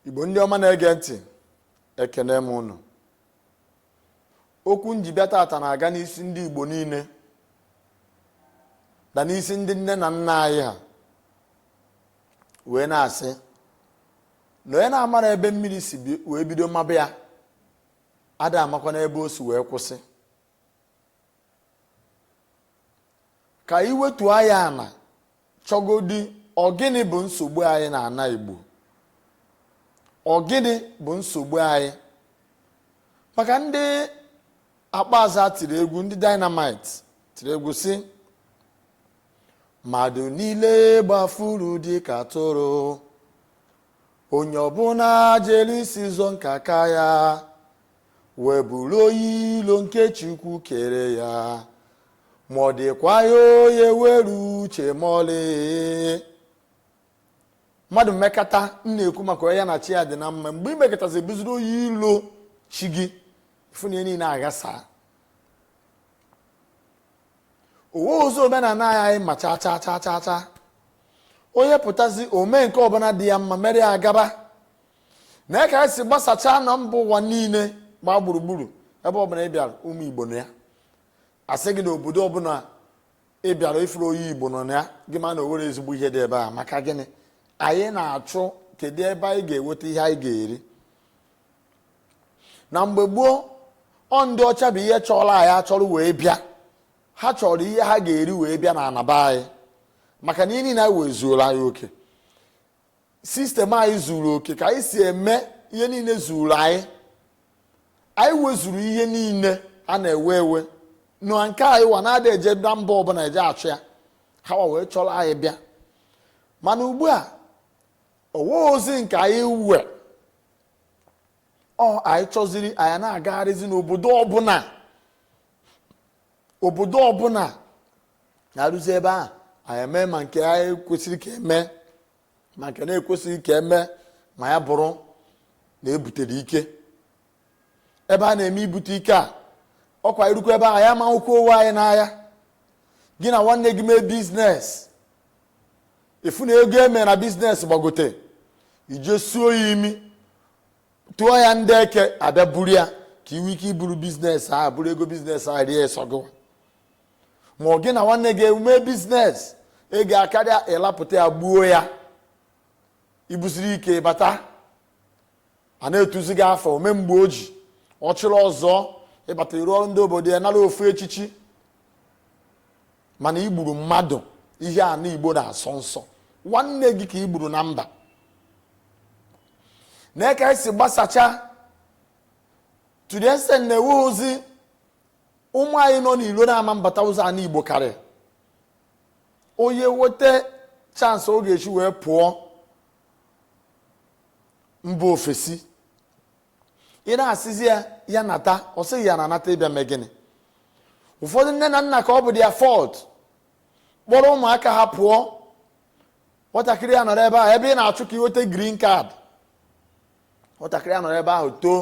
igbo ndị ọma na-ege ntị ekene m unu okwu m ji bịa tata na-aga n'isi ndị igbo niile na n'isi ndị nne na nna anyị ha wee na-asị na onye na-amara ebe mmiri si wee bido maba ya ada amakwa n'ebe o si wee kwụsị ka anyị wetu anya ana chọgodi ọ gịnị bụ nsogbu anyị na ana igbo ọ gịnị bụ nsogbu anyị maka ndị akpaza tiri egwu ndị dynamite tiri egwu sị mmadụ niile gbafuru dị ka atụrụ onye ọbụla jere isi ụzọ nke aka ya wee bụrụ onye ilo nke Chukwu kere ya ma ọ dịkwa ya onye were uche ma ọlị mmadụ mekata m na-ekwu maka onye ya na chi ya dị na mma mgbe i mekatazi bụziri onye ilo chi gị ị fụ na ihe niile aghasa o weọzị omenala anyị ma cha cha cha cha cha onye pụtazi o mee nke ọbụla dị ya mma mere ya gaba nee ka anyị si gbasachaa na mba ụwa niile gbaa gburugburu ebe ọbụla ị bịara ụmụ igbo nọ ya a sị gị na obodo ọbụla ị bịara ị fụrọ onye igbo nọ na ya gị ma na o nwerọ ezigbo ihe dị ebe a maka gịnị anyị na-achụ kedu ebe anyị ga-enweta ihe anyị ga-eri na mgbe gboo ọ ndị ọcha bụ ihe chọrọ anyị achọrọ wee bịa ha chọrọ ihe ha ga-eri wee bịa n'ana be anyị maka na ihe niile anyị we zuola anyị oke system anyị zuru oke ka anyị si eme ihe niile zuru anyị anyị wezuru ihe niile a na-ewe ewe na nke anyị wa na-ada eje na mba ọbụla eje achụ ya ha wa wee chọrọ anyị bịa mana ugbu a o weọzị nke anyị we ọ anyị chọziri anyị na-agagharịzi n'obodo ọbụla obodo ọbụla anyị ruzi ebe ahụ anyị eme ma nke kwesịrị ka e me ma nke na-ekwesịghị ka e me ma ya bụrụ na e butere ike ebe a na-eme ibute ike a ọ kwa i rukwa ebe ahụ ya ma ụkwụ onwe anyị n'ahịa gị na nwanne gị mee business ị fụ na ego e me na business gbagote i je suo ya imi tụọ ya ndị eke abịa buru ya ka i we ike buru business ahụ buru ego business ahụ rie sọ gụwa ma ọ gị na nwanne gị emume business ego akarịa ịlapụta ya gbuo ya ibuziri ike bata a na-etuzi gị afa ome mgbe o ji ọchịrị ọzụọ ịbata iru ọrụ ndị obodo ị nara ofu echichi mana igburu mmadụ ihe ana igbo na-asọ nsọ nwanne gị ka igburu na mba nee ka esi gbasacha to the extent na enweghịzi ụmụ anyị nọ n'ilo na-ama mbata ụzọ ana igbo karịa onye nweta chance ọ ga-esi wee pụọ mba ofesi ị na-asịzi ya ya nata ọ sị gị ya nata ịbịa mee gịnị ụfọdụ nne na nna ka ọ bụ their fault kpọrọ ụmụaka ha pụọ nwatakịrị ya nọrọ ebe a ebe ị na-achụ ka ị nweta green card nwatakịrị a nọrọ ebe ahụ too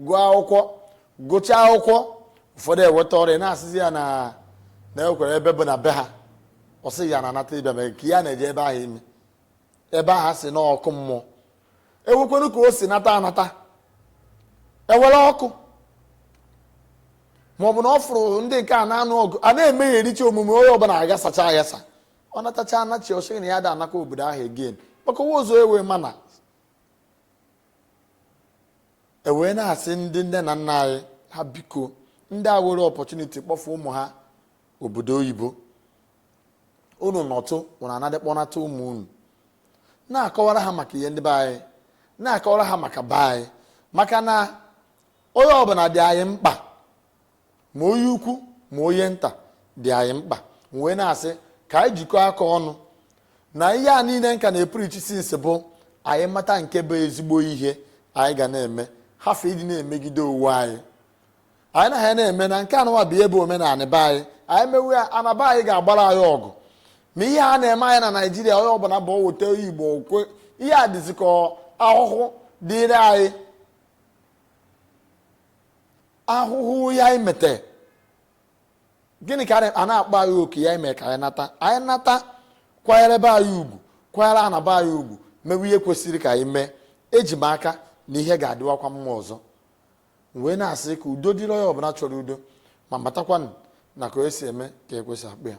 gụọ akwụkwọ gụchaa akwụkwọ ụfọdụ enweta ọrụ a na-asịzi ya nekwa ebe bụ ana be ha ọ sị ya na-anata ịbịa mere ka ya na-eje ebe ahụ ime ebe ha sị n'ọkụ mmụọ enwekwanụ ka o si nata anata enwerọ ọkụ ma ọ bụ na ọ fụrụ ndị nke a na-anụ ọgụ a na-emeghericha omume onye ọbụla agasacha agasa ọ natacha anachi ọ sị gị na ya ada anakwa obodo ahụ again maka enwe ụzọ ewe mana e wee na-asị ndị nne na nna anyị ha biko ndị a were opportunity kpọfụ ụmụ ha obodo oyibo unu nọtụ unu anadị kpọnata ụmụ unu na-akọwara ha maka ihe ndị be anyị na-akọwara ha maka be anyị maka na onye ọbụla dị anyị mkpa ma onye ukwu ma onye nta dị anyị mkpa wee na-asị ka anyị jikọọ aka ọnụ na ihe a niile nka na-epreach since bụ anyị mata nke bụ ezigbo ihe anyị ga na-eme hafụ ịdị na-emegide onwe anyị anyị na ha na-eme na nke anụwa bụ ihe bụ omenala be anyị anyị mewe ya ana be anyị ga-agbara anyị ọgụ ma ihe a na-eme anyị na naijiria onye ọbụla bụ weta igbo okwe ihe a dịzi ka ahụhụ dịrị anyị ahụhụ ihe anyị mete gịnị ka a na-akpọ anyị oku ya ime ka anyị nata anyị nata kwanyere be anyị ugwu kwanyere ana be anyị ugwu mewe ihe kwesịrị ka anyị mee eji m aka na ihe ga-adịwakwa mma ọzọ wee na-asị ka udo dịrị onye ọbụla chọrọ udo ma matakwanụ na ka onye si eme ka ekwe si akpọ ya